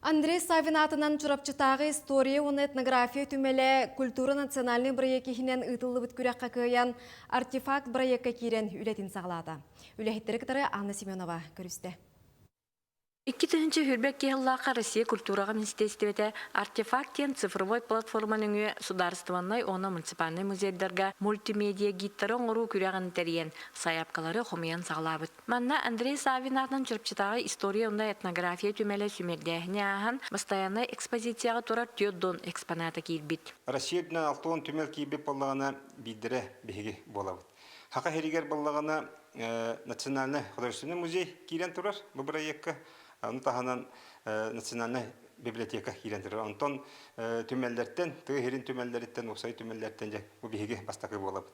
Андрей Савин аатынан Чурапчытааҕы история уонна этнография түмэлэ культура национальнай бырайыак иһинэн ыытыллыбыт күрэххэ кыайан артефакт бырайыакка киирэн үлэтин саҕалаата. Үлэһиттэри кытары Анна Семенова көрүстэ. Икки тыһыынча сүүрбэкки сыллаахха Россия культураҕа министиэристибэтэ «Артефакт» диэн цифровой платформа нөҥүө судаарыстыбаннай уонна муниципальнай музейдарга мультимедиа гидтары оҥоруу күрэҕин тэрийэн, сайаапкалары хомуйан саҕалаабыт. Манна Андрей Саввин аатынан Чурчатааҕы история уонна этнография түмэлэ симиэрдээһини ааһан, бастайааннай экспозицияҕа турар түөрт Дон экспоната киирбит. Россия үрдүнэн алта уон түмэл киирбит баллаҕана биирдэрэ биһиги буолабыт. Хака иһигэр баллаҕана Национальный художественный музей киирэн турар бу бырайыакка. Ону таһынан Национальная библиотека киирэн турар. Онтон түмэллэртэн, тыа иһирин түмэллэриттэн, уопсай түмэллэртэн дьэ бу биһиги бастакы буолабыт.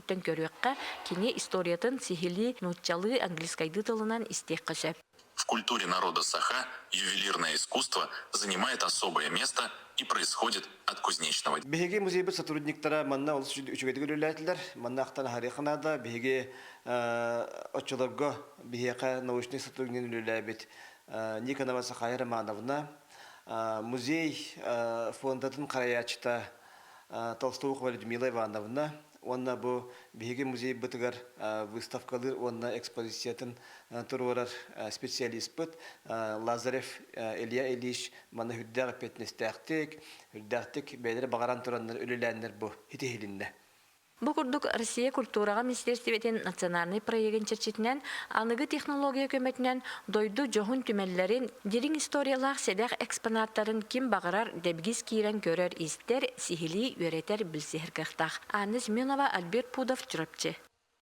Түмүктэн көрүөххэ, кини историятын сиһилии нууччалыы, английскайдыы тылынан истиэххэ сөп. В культуре народа Саха ювелирное искусство занимает особое место и происходит от кузнечного Биһиги музейбыт сотрудниктара манна олус үчүгэйдик үлэлээтилэр. Манна ахтан аһарыахха наада, биһиги оччолорго биһиэхэ научнай сотруднигын үлэлээбит Никонова Сахая Романовна, музей фондатын харайааччыта Толстовухова Людмила Ивановна уонна бу биһиги музейбытыгар выставкалыыр уонна экспозициятын туруорар специалиспыт Лазарев Илья Ильич маны үрдээх эппиэтинэстээхтик, үрдээхтик бэйэлэрэ баҕаран тураннар үлэлээннэр бу итиһилиннэ. Бу курдук Россия культураҕа министиэрстибэтин национальнай проегын чэрчитинэн аныгы технология көмөтүнэн дойду дьоһун түмэллэрин, дириҥ историялаах сэдэх экспонаттарын ким баҕарар дэбигис киирэн көрөр-истэр, сиһилии үөрэтэр-билсиһэр кыахтаах. Анна Семенова, Альберт Пудов, Чурапчы.